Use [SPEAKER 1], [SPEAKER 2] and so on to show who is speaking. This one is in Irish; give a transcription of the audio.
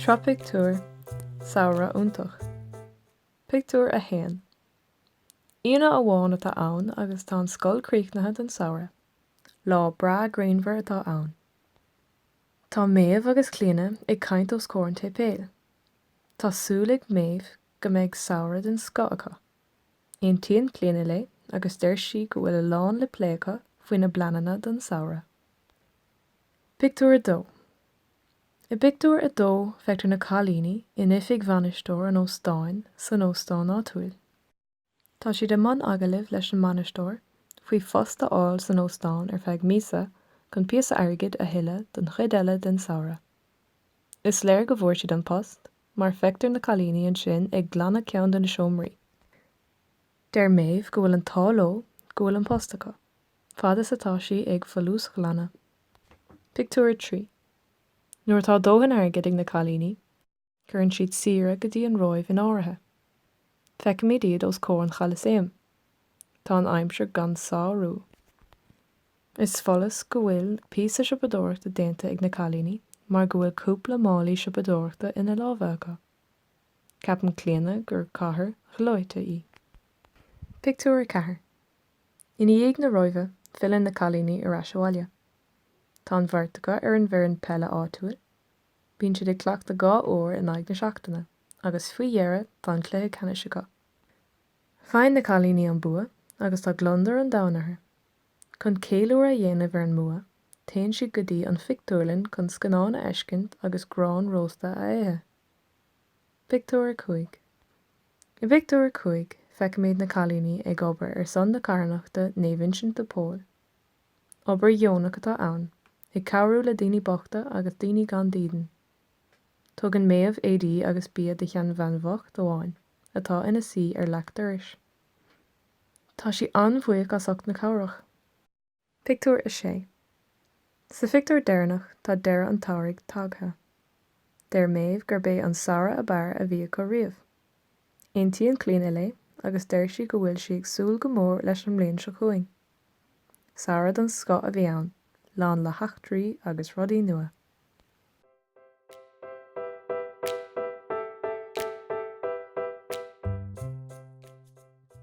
[SPEAKER 1] Sraith Pictiúr, Samhradh iontach. Pictiúr 1 Aoine amháin atá ann agus tá an scoil críochnaithe don samhradh. Lá breá grianmhar atá ann. Tá Méabh agus Clíodhna ag caint os comhair an tséipéil. Tá súil ag Méabh go mbeidh samhradh den scoth acu. Aontaíonn Clíodhna léi agus deir sí go bhfuil a lán le plé acu faoina bpleananna don samhradh. Pictiúr 2 I bpictiúr a dó feictear na cailíní in oifig bhainisteoir an óstáin san óstán áitiúil. Tá siad i mbun agallaimh leis an mbainisteoir faoi phost a fháil san óstán ar feadh míosa chun píosa airgid a thuilleadh don chuid eile den samhradh. Is léir go bhfuair siad an post mar feictear na cailíní ansin ag glanadh ceann de na seomraí. Deir Méabh go bhfuil an t-ádh leo go bhfuil an post acu, fad is atá sí ag folúsghlanadh. Pictiúr 3. Nuair atá dóthain airgid ag na cailíní, cuireann siad saoire go dtí an Róimh in áirithe. Feicimid iad os comhair an Cholasaeim. Tá an aimsir gan sárú. Is follas go bhfuil píosa siopadóireachta déanta ag na cailíní mar go bhfuil cúpla málaí siopadóireachta ina lámha acu. Ceapann Clíodhna gur cathair ghleoite í. Pictiúr 4 I ndiaidh na Róimhe filleann na cailíní ar ais abhaile. Tá an bheirt acu ar an bhfoireann peile áitiúil. Bíonn siad ag cleachtadh dhá uair in aghaidh na seachtaine agus faoi dheireadh tá an cluiche ceannais acu. Faigheann na cailíní an bua agus tá gliondar an domhain orthu. Chun ceiliúradh a dhéanamh ar an mbua, téann siad go dtí an phictiúrlann chun scannán a fheiscint agus grán rósta a ithe. Pictiúr 5 I bpictiúr a cúig, feicimid na cailíní ag obair ar son na carthanachta Naomh Uinsint de Pól. Obair dheonach atá ann, ag cabhrú le daoine bochta agus daoine gan dídean. Tugann Méabh éadaí agus bia do sheanbhean bhocht amháin atá ina suí ar leac dorais. Tá sí an-bhuíoch as ucht na cabhrach. Pictiúr 6 Sa phictiúr deireanach tá deireadh an tsamhraidh tagtha. Deir Méabh gurb é an samhradh ab fhearr a bhí acu riamh. Aontaíonn Clíodhna léi agus deir sí go bhfuil sí ag súil go mór leis an mbliain seo chugainn. Samhradh den scoth a bhí ann, lán le heachtraí agus rudaí nua.